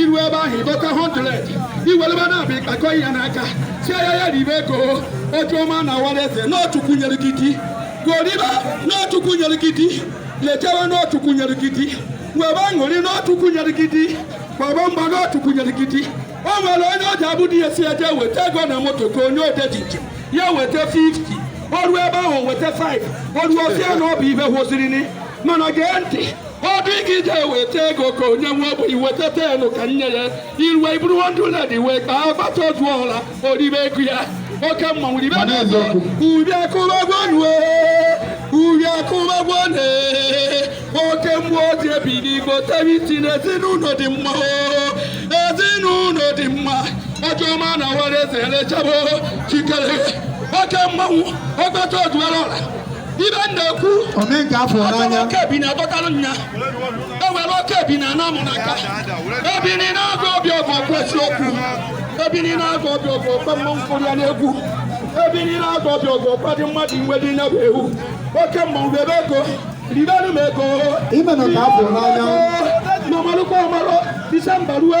iru ebe ahụ ịdọta 100 iweleba na-abịa ịkpakọ ya n'aka sị ya ribe ego ọjọma na awara eze na Chukwu nyere gị di goriba na Chukwu nyere gị di lejewe na Chukwu nyere gị di webe aṅụrị na Chukwu nyere gị di gbaba mgba na Chukwu nyere gị di o nwere onye ọ ji abụ di ya sị je weta ego na moto ka onye ode ji njem ya weta 50 o ruo ebe ahụ weta 5 o ruo ọ sị ya na ọ bụ ihe hụziri ni mana gee ntị gị je weta ego ka onye nwe bụ iweta 10 ka nye ya iruwe iburu 100 iwe kpaa ọgbata ozu ọla oribe ego ya oke mmanwụ ribe ubi akụbagwanue ubi akụbagwane oke mmụọ oji ebili igbo tebiti na ezinụlọ dị mma ezinụlọ dị mma ọjọma na awara eze elechabo chikere oke mmanwụ ọgbata ozu ọla ibe na-ekwu omenka afọ n'anya oke bi na-adọtalụ nya ewere oke bi na anamụ na nka ebini na-agụ obi ọgụ ọgụ eziokwu ebini na-agụ obi ọgụ ọgụ mmanwụ kpọrọ ya n'egwu ebini na-agụ obi ọgụ ọgụ dị mmadụ iwe dị nya bụ ewu oke mmanwụ ribe ego ribenu m ego imenụ ka afọ n'anya n'ọmalụkwa ọmalụ disemba rue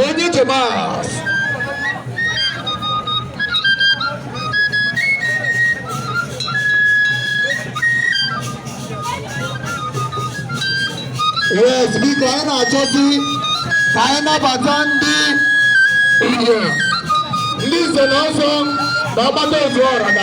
onye Tomas yes biko anyị na-achọzi ka anyị nabata ndị ichie ndị nze na ọzọ na ọgbata ozu ọra